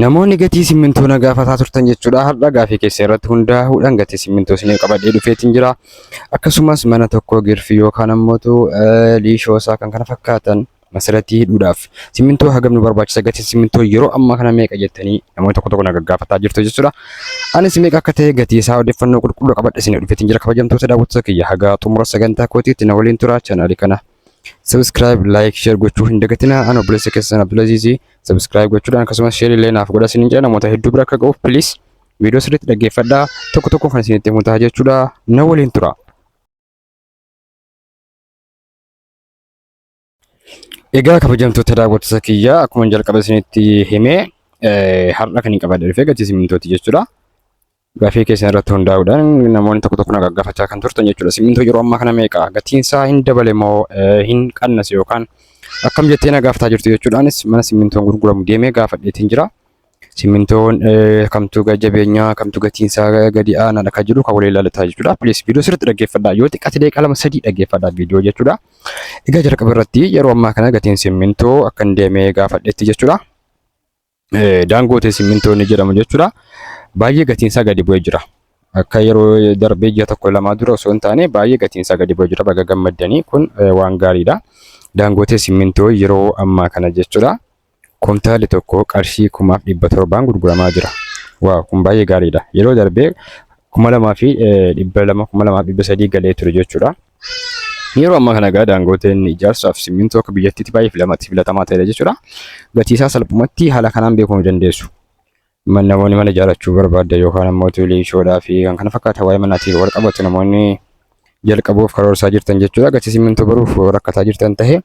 Namoonni gatii simmintoo na gaafataa turtan jechuudha. Har'a gaafii keessa irratti hundaa'uudhaan gatii simmintoo isiniif qabadhee dhufeetiin jira. Akkasumas mana tokko girfii yookaan ammootu liishoo isaa kan kana fakkaatan masiratii hidhuudhaaf simmintoo hagam nu barbaachisa gatiin simmintoo yeroo ammaa kana meeqa jettanii namoonni tokko tokko na gaggaafataa jirtu jechuudha. Anis meeqa akka ta'e gatii isaa odeeffannoo qulqulluu qabadhe isinii dhufeetiin jira kabajamtoota daawwattoota kiyya haga xumura sagantaa kootiitti na waliin turaa chaanaalii kana Subscribe, like, share gochuu hin dagatinaa. Ani obboleessa keessan Abdulaziizi. Subscribe gochuudhaan akkasumas share illee naaf godha isiniin jedha namoota hedduu bira akka ga'uuf please viidiyoo sirriitti dhaggeeffadhaa. Tokko tokko kan isinitti himu ta'a jechuudha. Na waliin tura. Egaa kabajamtoota daawwattoota kiyyaa akkuma jalqaba isinitti himee har'a kan hin qabadne dhufee gatii simintooti jechuudha. Gaaffii keessan irratti hundaa'uudhaan namoonni tokko tokko na gaggaafachaa kan turtan jechuudha. Simmintoo yeroo ammaa kana meeqa? Gatiin isaa hin dabale moo hin qannase yookaan akkam jettee na gaafataa jirtu jechuudhaanis mana simmintoon gurguramu deemee gaafadheetiin jira. Simmintoon kamtu jabeenyaa kamtu gatiin isaa gadi aanaadha kan jedhu kan walii ilaalataa jechuudha. Please viidiyoo sirriitti dhaggeeffadhaa. Yoo xiqqaate daqiiqaa lama sadii dhaggeeffadhaa viidiyoo jechuudha. Egaa jalqaba irratti yeroo ammaa kana gatiin simmintoo akkan deemee gaafadheetti jechuudha. Daangootee simmintoo inni jedhamu jechuudha. Baay'ee gatiinsaa gadi bu'ee jira. Akka yeroo darbee ji'a tokko lamaa dura osoo hin taane baay'ee gatiinsaa gadi bu'ee jira. Baga gammaddanii kun waan gaariidha. Daangootee simmintoo yeroo ammaa kana jechuudha. Kumtaali tokko qarshii kumaaf dhibba torbaan gurguramaa jira. Waaw kun baay'ee gaariidha. Yeroo darbee kuma lamaa fi dhibba lama kuma lamaa fi dhibba sadii galee ture jechuudha. Yeroo ammaa kana egaa daangooteen ijaarsaaf simmintoo akka biyyattiitti baay'ee filamati filatamaa ta'edha jechuudha. Gatii isaa salphumatti haala kanaan beekuu ni dandeessu. Man- Namoonni mana ijaarrachuu barbaadda yookaan ammoo tuulee ishoodhaa fi kan kana fakkaatan waa'ee manaatiin wal qabatu namoonni jalqabuuf karoorsaa jirtan jechuudha. Gatii simmintoo baruuf rakkataa jirtan ta'e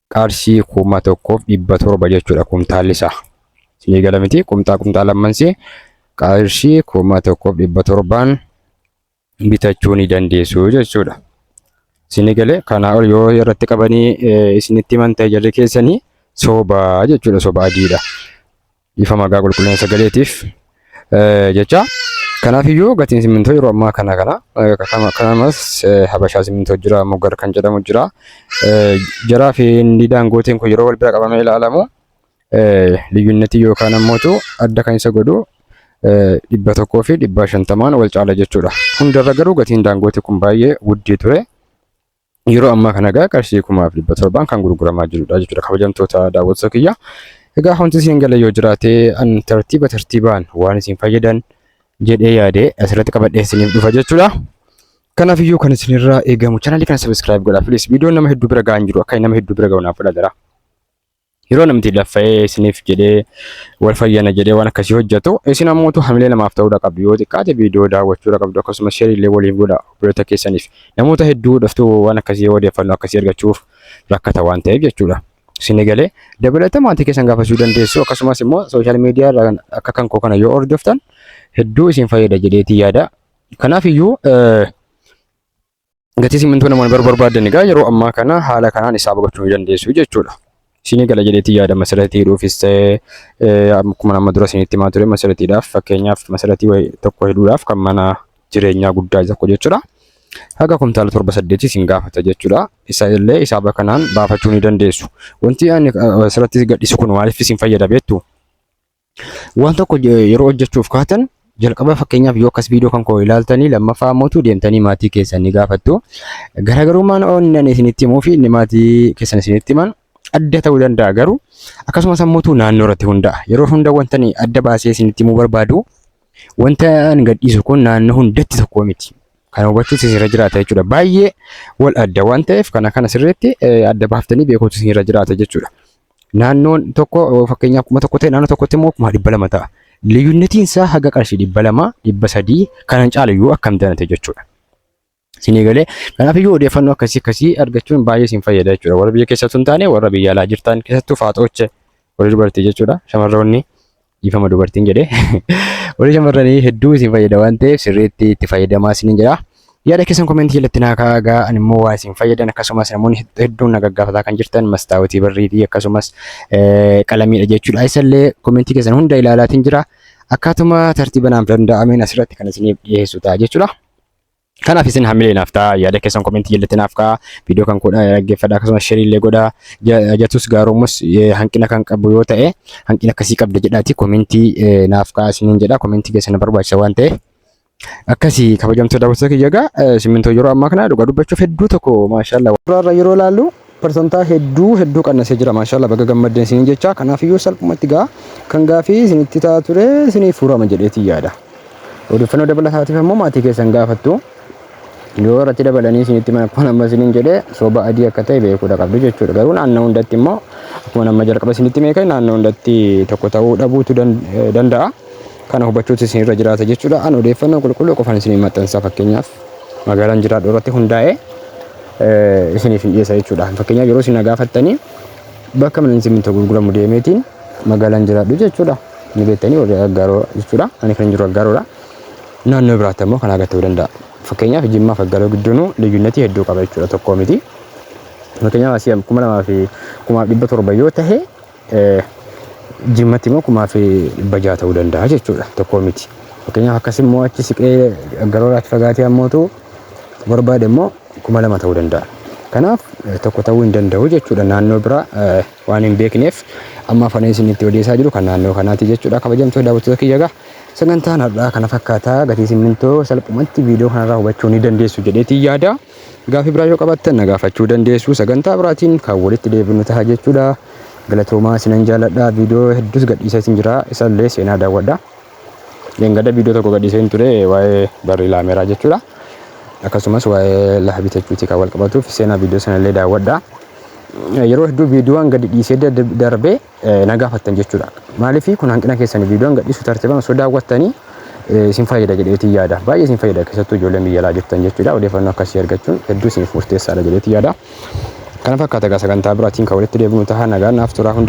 qarshii kuma tokkoof dhibba torba jechuudha kumtaalli isaa. Isinii gala miti kumtaa kumtaa lammansi qarshii kuma tokkoof dhibba torbaan bitachuu ni dandeessu jechuudha. Isinii galee kanaa ol yoo irratti qabanii isinitti himan ta'e jarri keessanii sobaa jechuudha soba adiidha. Dhiifama gaa qulqullina sagaleetiif eh, jecha. Kanaaf iyyuu gatiin simmintoo yeroo ammaa kana kana eh, akkasuma- akkasumas eh, habashaa simmintoo jira moggar kan jedhamu jira. Eh, Jaraa fi inni daangootiin kun yeroo wal bira qabamee ilaalamu eh, liyyinnetii yookaan ammootu adda kan isa godhu eh, dhibba tokkoo fi dhibba shantamaan wal caala jechuudha. Hundarra garuu gatiin daangootii kun baay'ee guddii ture. Yeroo ammaa kana egaa qarshii kumaaf dhibba torbaan kan gurguramaa jirudha jechuudha kabajamtoota daawwattoota kiyya. Egaa wanti isin gala yoo jiraate an tartiiba tartiibaan waan isin fayyadan jedhee yaade asirratti qabadhee isiniif dhufa jechuudha. Kanaaf iyyuu kan isinirraa eegamu chaanalii kana sabiskiraayib godhaa filis viidiyoon nama hedduu bira ga'an jiru akka nama hedduu bira ga'u naaf godha jira. Yeroo namti laffa'ee isiniif jedhee wal fayyana jedhee waan akkasii hojjetu isin ammoo utuu hamilee namaaf ta'uudha qabdu yoo xiqqaate viidiyoo daawwachuudha qabdu akkasumas sheerii illee waliif godha obboloota keessaniif namoota hedduu dhuftuu waan akkasii odeeffannoo akkasii argachuuf rakkata waan ta'eef jechuudha. Isin egalee dabalata maatii keessan gaafachuu dandeessu akkasumas immoo sooshaal miidiyaa irraa akka kan koo kana yoo hordoftan hedduu isin fayyada jedheetii yaada. Kanaaf iyyuu Gatii simmintoo namoonni bar barbaadan egaa yeroo ammaa kana haala kanaan isaaba gochuu ni dandeessu jechuudha. Isinii gala jedheetti yaada masalatii hidhuufis ta'e eh, akkuma nama dura isinitti himaa ture masalatiidhaaf fakkeenyaaf masalatii wayi- tokko hidhuudhaaf kan mana jireenyaa guddaa tokko jechuudha. Haga kumtaala torba saddeetii isin gaafata jechuudha. Isa illee isaaba kanaan baafachuu ni dandeessu. Wanti ani eh, asirratti gadhiisu kun maaliif isin fayyada beektu? Waan tokko je- yeroo hojjechuuf kaatan jalqaba fakkeenyaaf yoo akkas viidiyoo kan koo ilaaltanii lammaffaa ammoo deemtanii maatii keessan ni gaafattu. Garaagarummaan inni ani isinitti himuu fi inni maatii keessan isinitti himan adda ta'uu danda'a garuu akkasumas ammoo naannoo irratti hundaa'a. Yeroo hunda wanta ani adda baasee isinitti himuu barbaadu wanta ani gadhiisu kun naannoo hundatti tokko miti. Kan hubachuus isinirra jiraata jechuudha. Baay'ee wal adda waan ta'eef kana kana sirriitti eh, adda baaftanii beekuutu isinirra jiraata jechuudha. Naannoon tokko fakkeenyaaf kuma tokko ta'e naannoo tokkotti immoo kuma dhibba lama ta'a. Liyyunnetiin isaa haga qarshii dhibba lama dhibba sadii kanan caala yoo akkam danate jechuudha. Sinii galee kanaaf iyyuu odeeffannoo akkasii akkasii argachuun baay'ee isin fayyada jechuudha. Warra biyya keessattuu hin taane warra biyya alaa jirtan keessattuu faaxooche warri dubartii jechuudha shamarroonni. dhiifama dubartiin jedhe warri shamarranii hedduu isin fayyada waan ta'eef sirriitti itti fayyadamaa isinin jedha. Yaada keessan komentii jalatti naa kaagaa ani immoo waan isin fayyadan akkasumas namoonni hedduun na gaggaafataa kan jirtan mastaawotii barriitii akkasumas qalamiidha jechuudha. Isallee komentii keessan hunda ilaalaatiin jira. Akkaatuma tartiiba naaf danda'ameen asirratti kan isiniif dhiyeessu ta'a jechuudha. Kanaaf isin hamilee naaf ta'a yaada keessan komentii jalatti naaf ka'a viidiyoo kan kudha dhaggeeffadha akkasumas sheerii illee godha jatus gaaroomus hanqina kan qabu yoo ta'e hanqina akkasii qabda jedhaati komentii naaf ka'a isiniin jedha komentii keessan barbaachisa waan ta'eef. Akkasii kabajamtoota daawwattoota kiyya egaa simmintoo yeroo ammaa kana dhugaa dubbachuuf hedduu tokko maashaallah. Duraarra yeroo ilaallu Persantaa hedduu hedduu qannasee jira maashaallah baga gammaddan isiniin jecha kanaafiyyuu salphumatti gaa kan gaafii isinitti taa ture isiniif furama jedheetii yaada odeeffannoo dabalataatiif ammoo maatii keessan gaafattu yoo irratti dabalanii isinitti mana akkuma amma isiniin jedhe soba adii akka ta'e beekuudha qabdu jechuudha garuu naannoo hundatti immoo akkuma amma jalqaba isinitti meeqa naannoo hundatti tokko ta'uu dhabuutu danda'a. Kana hubachuutu isin irra jiraata jechuudha. An odeeffannoo qulqulluu qofan isiniif maxxansa fakkeenyaaf magaalaan jiraadhu irratti hundaa'ee eh, isiniif hin dhiyeessa jechuudha. Fakkeenyaaf yeroo isin na gaafattanii bakka manni simmintoo gurguramu deemeetiin magaalaan jiraadhu jechuudha. Ni beektanii warri aggaaroo jechuudha. Ani kan hin jiru aggaaroodha. Naannoo biraatti ammoo kanaa gad ta'uu danda'a. Fakkeenyaaf jimmaa fi aggaaroo gidduunuu liyyunnetii hedduu qaba jechuudha tokkoo miti. Fakkeenyaaf asii kuma lamaa fi kumaaf dhibba torba yoo ta'e Jimmatti immoo kumaa fi dhibba jaha ta'uu danda'a jechuudha tokkoo miti. Fakkeenyaaf akkas immoo achi siqee garooraatti fagaatee ammootu barbaade immoo kuma lama ta'uu danda'a. Kanaaf tokko ta'uu hin danda'u jechuudha naannoo biraa waan hin beekneef amma afanii isinitti odeessaa jiru kan naannoo kanaati jechuudha kabajamtoota daawwattoota kiyya egaa sagantaan har'aa kana fakkaataa gatii simmintoo salphumatti viidiyoo kanarraa hubachuu ni dandeessu jedheetiin yaada. Gaafii biraa yoo qabaattan na gaafachuu dandeessu. Sagantaa biraatiin kan walitti deebinu taha jechuudha. Galatoomaa isinan jaaladha. Viidiyoo hedduus gadhiiseetiin jira. Isallee seenaa daawwadha. Dhengada viidiyoo tokko gadhiiseen ture waa'ee barrii laameeraa jechuudha. Akkasumas waa'ee lafa bitachuutii kan wal qabatuuf seenaa viidiyoo sanallee daawwadha. Yeroo hedduu viidiyoowwan gadi dhiisee darbee na gaafattan jechuudha. Maaliif kun hanqina keessan viidiyoon gadhiisu tartiibaan osoo daawwattanii isin fayyada jedheetiin yaada. Baay'ee isin fayyada keessattuu ijoolleen biyya alaa jirtan jechuudha. Odeeffannoo akkasii argachuun hedduu isiniif murteessaadha jedheetiin yaada. Kana fakkaata egaa sagantaa biraatiin kan walitti deebinu ta'a nagaan naaf turaa hunda